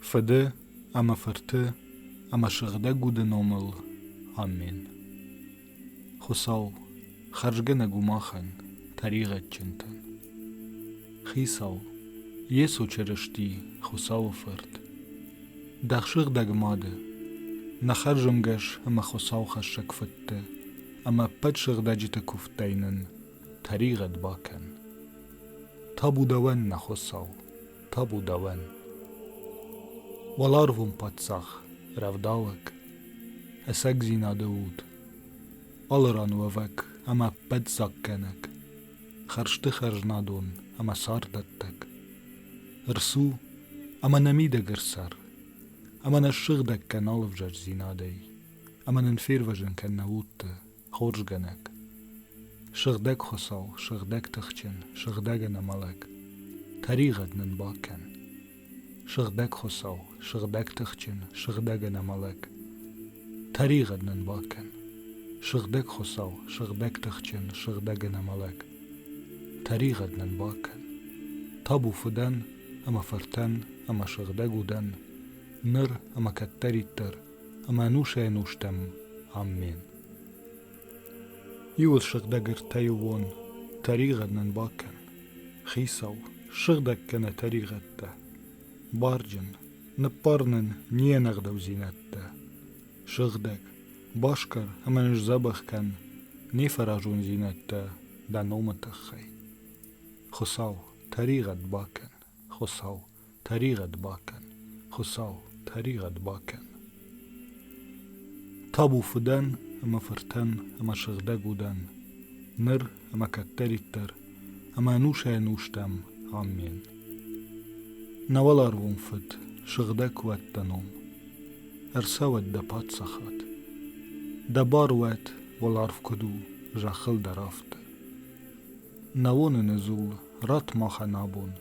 Фыды ӕмӕ Фырты ӕмӕ Сыгъдӕг Уды номыл. Амен. Хуыцау, хӕрзгӕнӕг у махӕн, тӕригъӕдджынтӕн. Хицау, Йесо Чырысти, Хуыцауы Фырт, Дӕ сыгъдӕг мады, нӕ хӕрзӕнгӕс ӕмӕ Хуыцаухӕссӕг фыдты ӕмӕ ӕппӕт сыгъдӕджыты куывдтӕй нын тӕригъӕд бакӕн табу дӕуӕн нӕ хуцау табу дӕуӕн уӕларвон паддзах рӕвдауӕг ӕцӕгдзинады уд аларануӕвӕг ӕма ӕппӕтдзаггӕнӕг хӕрзты хӕзнадон ӕма царддӕттӕг рцу ӕма нӕ мидӕг ӕрцӕр ӕма нӕ ссыгъдӕг кӕн алывзарсдзинадӕй ӕма нын фервӕзын кӕн нӕ удты хорзгӕнӕг, сыгъдӕг хуыцау, сыгъдӕг тыхджын, сыгъдӕг ӕнӕмӕлӕг, тӕригъӕд нын бакӕн. Сыгъдӕг хуыцау, сыгъдӕг тыхджын, сыгъдӕг ӕнӕмӕлӕг, тӕригъӕд нын бакӕн. Сыгъдӕг хуыцау, сыгъдӕг тыхджын, сыгъдӕг ӕнӕмӕлӕг, тӕригъӕд нын бакӕн. Табу фыдӕн ӕмӕ фыртӕн ӕмӕ сыгъдӕг удӕн, ныр ӕмӕ кӕддӕриддӕр Ӕмӕнусӕй-нустӕм. Аммен. Иуыл сыгъдӕг ӕртӕйыуон тӕригъӕд нын бакӕн. Хицау, сыгъдӕг кӕнӕ тӕригъӕдтӕ. Барджын, ныббар нын не нӕгъдӕудзинӕдтӕ. Сыгъдӕг, басгар ӕмӕ нын сдзӕбӕх кӕн не фӕразондзинӕдтӕ дӕ номы тыххӕй. Хуыцау, тӕригъӕд бакӕн, Хуыцау, Тӕригъӕд бакӕн, Хуыцау, тӕригъӕд бакӕн! Табу фыдӕн ӕмӕ фыртӕн ӕмӕ сыгъдӕг удӕн, ныр ӕмӕ кӕддӕриддӕр, ӕмӕ ӕнусӕй-ӕнустӕм. Амен. Нӕ уӕларвон Фыд, сыгъдӕг куы уӕд дӕ ном! Ӕрцӕуӕд дӕ паддзахад! Дӕ бар уӕд, уӕларв куыд у, зӕххыл дӕр афтӕ. Нӕ уыныны дзул ратт махӕн абон,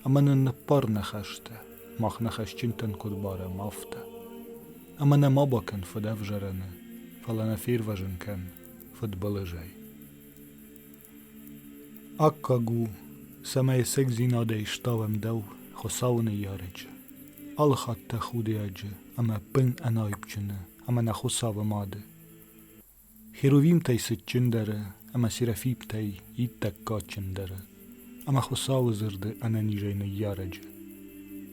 Ӕмӕ нын ныббар нӕ хӕстӕ, Мах нӕ хӕсджынтӕн куыд барӕм, афтӕ. Ӕмӕ нӕ ма бакӕн фыдӕвзарӕны, Фӕлӕ нӕ фервӕзын кӕн фыдбылызӕй. Аккаг у, цӕмӕй цӕгдзинадӕй ставӕм дӕу Хуыцауы ныййарӕджы, алы хатт дӕ худиаджы ӕмӕ бын ӕнайпджыны ӕмӕ нӕ Хуыцауы мады. Херувимтӕй цытджындӕры ӕмӕ серафимтӕй иттӕг кадджындӕры ӕмӕ Хуыцауы дзырды ӕнӕнизӕй ныййарӕджы.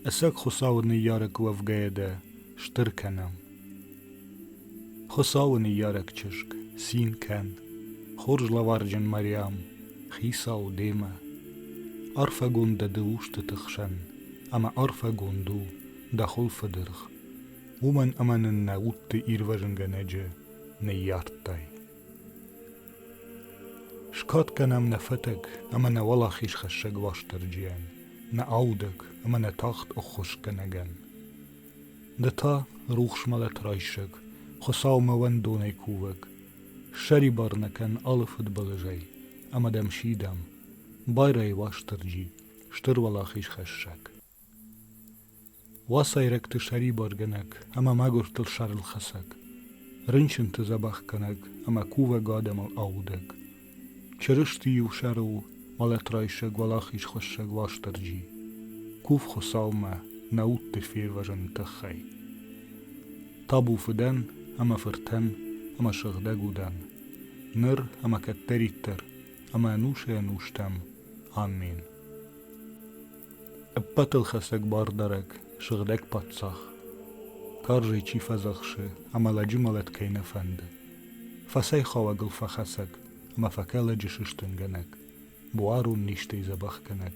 Ӕцӕг Хуыцауы ныййарӕг уӕвгӕйӕ дӕ стыр кӕнӕм. Хуыцауы ныййарӕг чызг, цин кӕн, хорз лӕварджын Мариам, Хицау демӕ. Арфӕгонд дӕ ды устыты хсӕн, ӕмӕ арфӕгонд у дӕ хуылфыдыргъ, уымӕн ӕмӕ нын нӕ удты ирвӕзынгӕнӕджы Ныййардтай. Скад кӕнӕм нӕ фӕтӕг ӕмӕ нӕ уӕлахизхӕссӕг Уастырджийӕн, нӕ аудӕг ӕмӕ нӕ тагъд ӕххуысгӕнӕгӕн. Ды та, рухс мӕлӕт райсӕг, Хуыцаумӕ уӕндонӕй кувӕг, ссӕрибар нӕ кӕн алы фыдбылызӕй ӕмӕ дӕм сидӕм, байрай Уастырджи, стыр уӕлахизхӕссӕг. Уацайрӕгты сӕрибаргӕнӕг ӕмӕ мӕгуыртыл сӕрылхӕцӕг, рынчынты дзӕбӕхгӕнӕг ӕмӕ кувӕг адӕмыл аудӕг, Чырысти-иу сӕрыл мӕлӕтрайсӕг уӕлахизхӕссӕг Уастырджи, кув Хуыцаумӕ нӕ удты фервӕзыны тыххӕй. Табу фыдӕн ӕмӕ фыртӕн ӕмӕ сыгъдӕг удӕн, ныр ӕмӕ кӕддӕриддӕр ӕмӕ ӕнусӕй-ӕнустӕм. Амен. Ӕппӕтылхӕцӕг бардарӕг, сыгъдӕг паддзах. Карзӕй чи фӕдзӕхсы, ӕмӕ лӕджы мӕлӕт кӕй нӕ фӕнды. Фӕцӕйхауӕг ыл фӕхӕцӕг, ӕмӕ фӕкӕлӕджы сыстынгӕнӕг, буарон низтӕй дзӕбӕхгӕнӕг.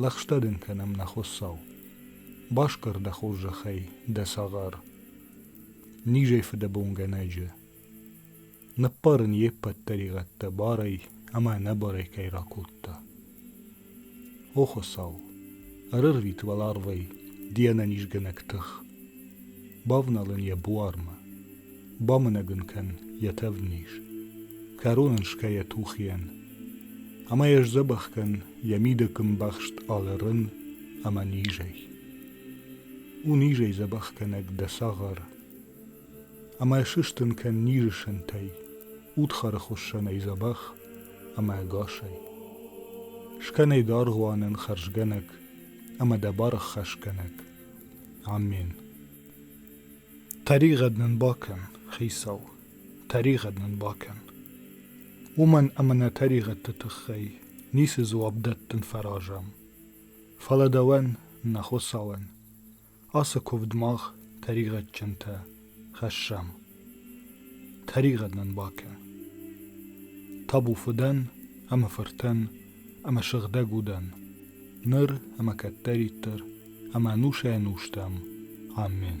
Лӕгъстӕ дын кӕнӕм, нӕ Хуыцау, басгар дӕ хорзӕхӕй дӕ цагъар. Низӕй фыдӕбонгӕнӕджы, Ныппарын йе ппӕт тӕригъӕдтӕ барӕй ӕмӕ ӕнӕбарӕй кӕй ракодта. О, Хуыцау, ӕрӕрвит уӕларвӕй ды ӕнӕнизгӕнӕг тых, бавнал ын йӕ буармӕ, бамынӕг ын кӕн йӕ тӕвдниз, кӕрон ын скӕ йӕ тухийӕн, ӕмӕ йӕ сдзӕбӕх кӕн йӕ мидӕг ӕмбӕхст алы рын ӕмӕ низӕй. У низӕй дзӕбӕхгӕнӕг дӕ цагъар, Ӕмӕ сыстын кӕн низы сынтӕй, Удхары хуыссӕнӕй дзӕбӕх ӕмӕ ӕгасӕй. Скӕнай дӕргъвӕнӕн хӕрзгӕнӕг ӕмӕ дӕ бараххӕсгӕнӕг. Амен. Тӕригъӕд нын бакӕн, Хицау, тӕригъӕд нын бакӕн. Уымӕн ӕмӕ нӕ тӕригъӕдты тыххӕй ницы дзуапп дӕттын фӕразӕм. Фӕлӕ дӕуӕн, нӕ Хуыцауӕн, Ацы куывд мах тӕригъӕдджынтӕ хӕссӕм. Тӕригъӕд нын бакӕн. Табу фыдӕн ӕмӕ фыртӕн ӕмӕ сыгъдӕг удӕн, ныр ӕмӕ кӕддӕриддӕр ӕмӕ ӕнусӕй-ӕнустӕм. Амин.